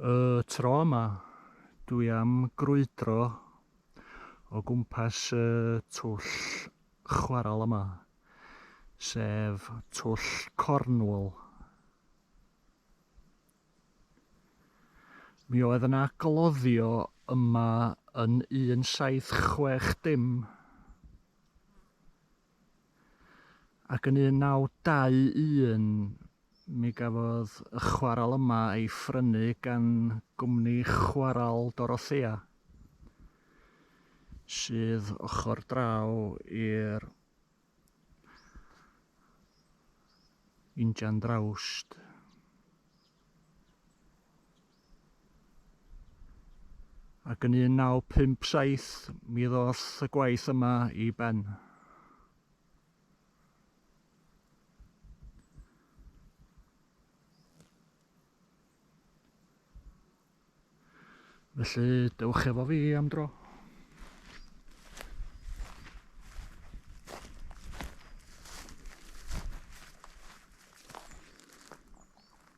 Y tro yma, dwi am grwydro o gwmpas y twll chwaral yma, sef twll Cornwall. Mi oedd yna gloddio yma yn 1760. Ac yn 1921, mi gafodd y chwarel yma ei phrynu gan gwmni chwarel Dorothea, sydd ochr draw i'r injan drawst. ac yn 1957 mi ddoth y gwaith yma i ben. Felly, dewch efo fi am dro.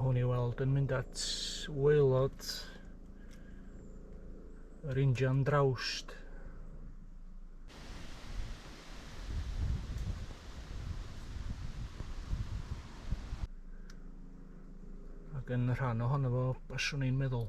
hwn i weld yn mynd at waelod yr injan drawst Ac yn rhan ohono fo, baswn i'n meddwl.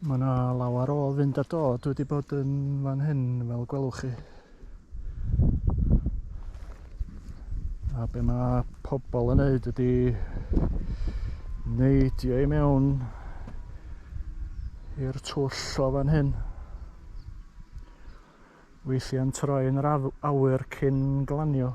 Mae yna lawer o fynd a dod wedi bod yn fan hyn fel gwelwch chi. A be mae pobl yn neud ydy neidio i mewn i'r twll o fan hyn. Weithiau'n troi'n yr awyr cyn glanio.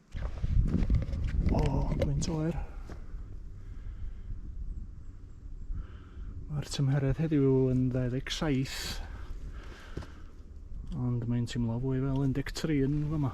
O, gwynt oer. Mae'r tymheredd heddiw yn 27, ond mae'n teimlo fwy fel 13 yn fama.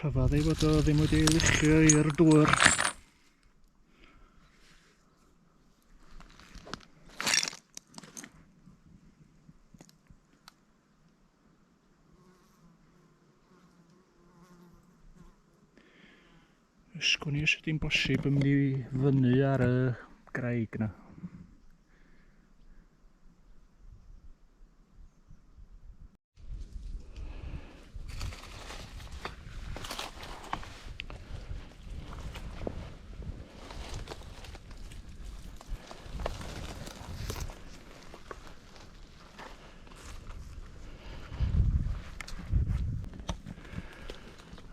rhyfedd ei fod o ddim wedi ei luchio i'r dŵr. Ysgwn i os ydy'n bosib yn mynd i fyny ar y graig na.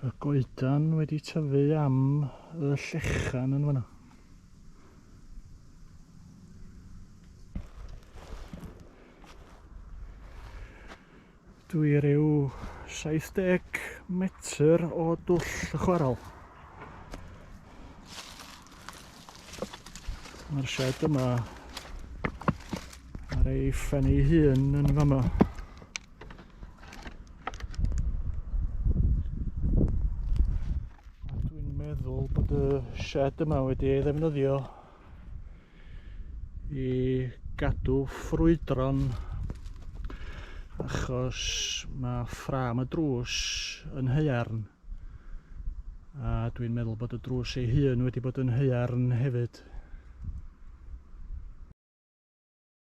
y goedan wedi tyfu am y llechan yn fanna. Dwi rhyw 70 metr o dwll y chwaral. Mae'r shed yma ar ei phen ei hun yn fama. Dwi'n meddwl bod y shed yma wedi ei ddefnyddio i gadw ffrwydron achos mae ffram y drws yn haearn a dwi'n meddwl bod y drws ei hun wedi bod yn haearn hefyd.